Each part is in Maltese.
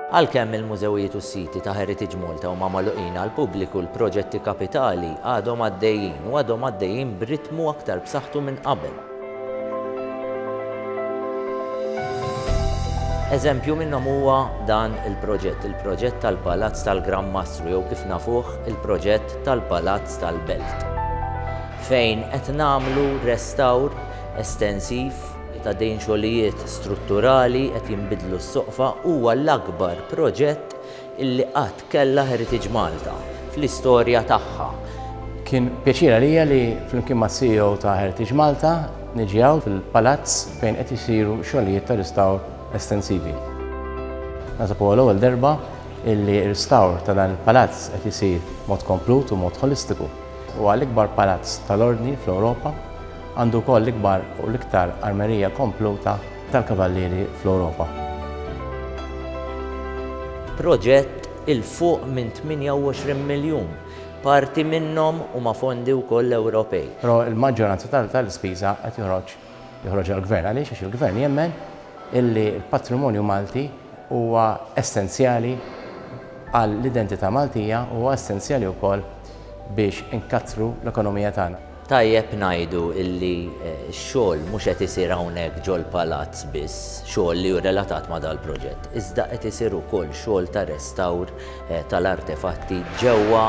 Għalkemm il-mużewijiet u s-siti ta' Heritage Malta huma magħluqin għall-pubbliku, l-proġetti kapitali għadhom għaddejjin u għadhom għaddejjin b'ritmu aktar b'saħħtu minn qabel. Eżempju minnhom huwa dan il-proġett, il-proġett tal-Palazz tal-Gran Mastru jew kif nafuh il-proġett tal-Palazz tal-Belt. fejn qed nagħmlu restawr estensiv ta' dejn xogħlijiet strutturali, qed jinbidlu s-soqfa, huwa l-akbar proġett illi qatt kellha Heritage Malta fl-istorja tagħha. Kien pjaċir għalija li flimkien mas-CEO ta' Heritage Malta niġi hawn fil-palazz fejn qed isiru xogħlijiet ta' ristawr estensivi. Naħseb huwa l-ewwel darba illi ristawr ta' dan il-palazz qed isir b'mod komplut u b'mod ħolistiku. Huwa l-ikbar palazz tal-Ordni fl-Ewropa, għandu wkoll l-ikbar u l-iktar armerija kompluta tal-kavallieri fl-Ewropa. Proġett 'il fuq minn 28 miljun, parti minnhom huma fondi wkoll Ewropej. Però l-maġġoranza tal-ispiża qed joħroġ joħroġha l-Gvern. Għaliex? Għax il-Gvern jemmen illi l-patrimonju Malti huwa essenzjali għall-identità Maltija u huwa essenzjali wkoll biex inkattru l-ekonomija tagħna. Tajjeb ngħidu illi x-xogħol mhux qed isir hawnhekk ġol-Palazz biss, xogħol li hu relatat ma' dal-proġett, iżda qed isir ukoll xogħol ta' restawr tal-artefatti ġewwa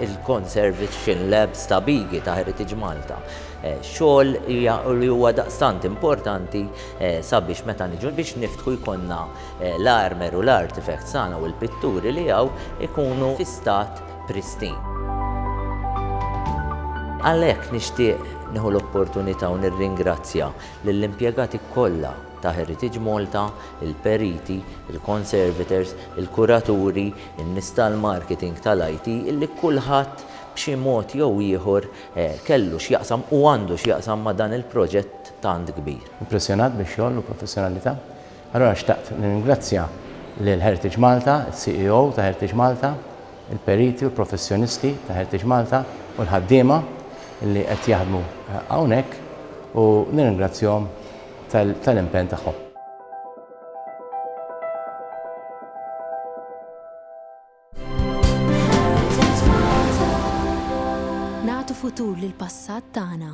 l-Conservation Labs ta' Bigi ta' Heritage Malta. Xogħol li huwa daqstant importanti sabiex meta niġu biex niftħu jkollna l-armer u l-artifacts tagħna u l-pitturi li hawn ikunu fi stat pristine. Għalhekk nixtieq nieħu l-opportunità u nirringrazzja lill-impjegati kollha ta' Heritage Malta, il-periti, il-conservators, il-kuraturi, in-nies tal-marketing, tal-IT, illi kulħadd b'xi mod jew ieħor kellu x'jaqsam u għandu x'jaqsam ma' dan il-proġett tant kbir. Impressjonat bix-xogħol u professjonalità. Allura xtaqt nirringrazzja lil Heritage Malta, is-CEO ta' Heritage Malta, il-periti u l-professjonisti ta' Heritage Malta u l-ħaddiema li qed jaħdmu hawnhekk u nirringrazzjahom tal-impenn tagħhom. Nagħtu futur lil passat tagħna.